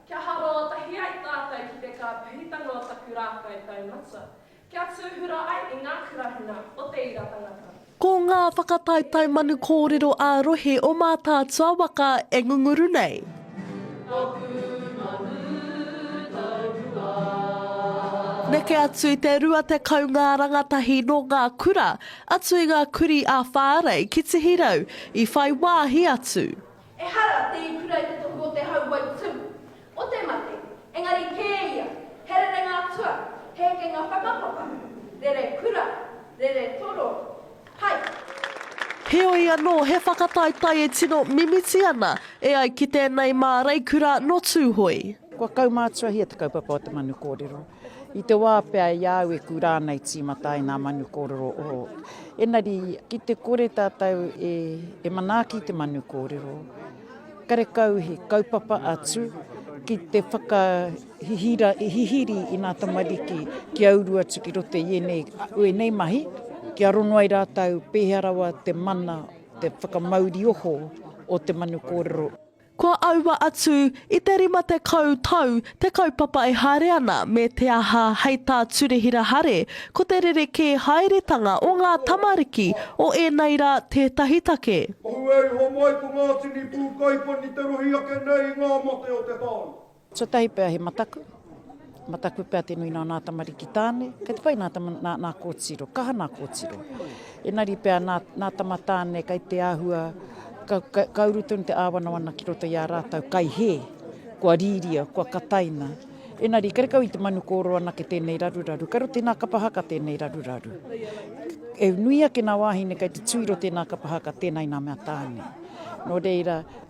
Kia haroa tahi ai tātou ki te kāpahitanga o taku rākau taumata, kia tūhura ai i ngā kurahina o te ira tangata. Ko ngā whakataetae manu kōrero ā-rohe o Mātaatua waka e ngunguru nei. Neke atu i te 20 ngā rangatahi nō ngā kura, atu i ngā kurī ā-whārei ki Tihirau, i whai wāhi atu. Ehara te ikura i te tohu o te hau wai tū, o te mate, engari kē ia, he rerenga atua, he hekenga whakapapa, rere kura, rere toro, pai. Heoi anō, he whakataetae e tino mimiti ana e ai ki tēnei māreikura nō Tūhoe. Kua kaumātuahia te kaupapa o te manu kōrero. I te wā pea i a au e kura ana e tīmata ai ngā manu kōrero o. Engari, ki te kore tātou e, e manaaki te manu kōrero, karekau he kaupapa atu ki te whakahihira, hihiri i ngā tamariki ki a uru atu ki roto i ēnei, ēnei mahi, kia rongo ai rātou pēhea rawa te mana, te whakamauri oho o te manu kōrero. Kua aua atu i te rima tekau tau te kaupapa e haere ana me te aha hei tā Turehira Hare ko te rerekē haeretanga o ngā tamariki o ēnei rā tētahi take. Ohu e iho mai ko Ngātini Pūkaipani te rohi ake nei i ngā mate o te tāone. Tuatahi pea he mataku, mataku pea te nui nā nā tamariki tāne, kei te whai nā, nā, nā kōtiro, kaha nā kōtiro. Enari pea nā, nā tama tāne kei te āhua, ka, ka, ka uru tonu te āwanawana ki roto i a rātou kai he, kua rīria, kua kataina. Enari, kare kau i te manu kōro anake tēnei raruraru, kare o tēnā kapa haka tēnei raruraru. E nui ake nā wāhine kei te tūiro tēnā kapa haka, tēnei nā mea tāne. Nō reira,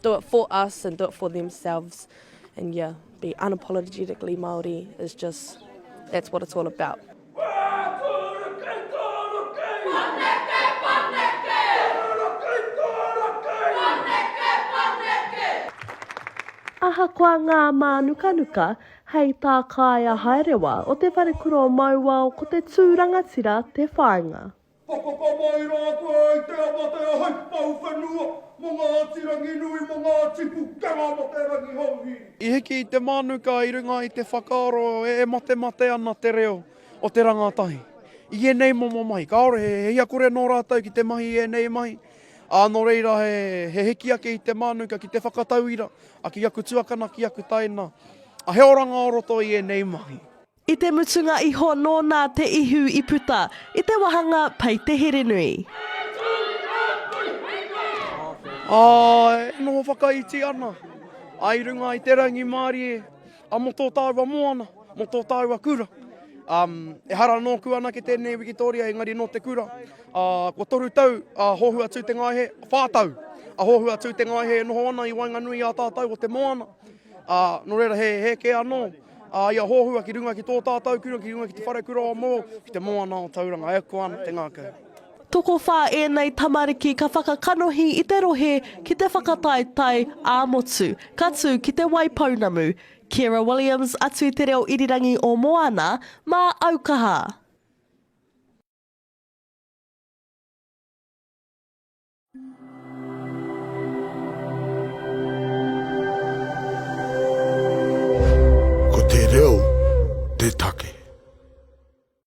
Do it for us and do it for themselves and yeah, be unapologetically Māori is just, that's what it's all about. Ahakoa ngā mānukanuka, hei tā Kāea Haerewa o Te Wharekura o Mauao ko te tū rangatira te whāinga. Ka whakamāira ake ai te amatea hei pou whenua mō Ngāti Ranginui, mō Ngāti Pukanga, mō te Rangihouhiri. I hiki i te mānuka i runga i te whakaaro e matemate ana te reo o te rangatahi. I ēnei momo mahi, kāore he hia kore nō rātou ki te mahi i ēnei mahi, ā, nō reira he hiki ake i te mānuka ki te whakatauira ki aku tuakana, ki aku taina, he oranga o roto i ēnei mahi. I te mutunga iho nōna te ihu i puta i te wahanga Pei te Herenui. Ā, e noho whakaiti ana i runga i te rangimārie a mō tō tāua moana, mō tō tāua kura. Ehara nōku anake tēnei wikitōria engari nō te kura. Kua toru tau a Hōhu a Tūtengaehe, whā tau a Hōhu a Tūtengaehe e noho ana i waenganui i a tātou o te moana. Nō reira, he hēkē anō. A ia hohua ki runga ki tō tātau kura, ki runga ki te wharekura o Moore, ki te moana o Tauranga, e ako ana te ngākau. Tokowhā ēnei tamariki ka whakakanohi i te rohe ki te whakataetae ā-motu, ka tū ki Te Waipounamu. Ciara Williams atu i te reo irirangi o Moana mā Aukaha. Ko te reo te take.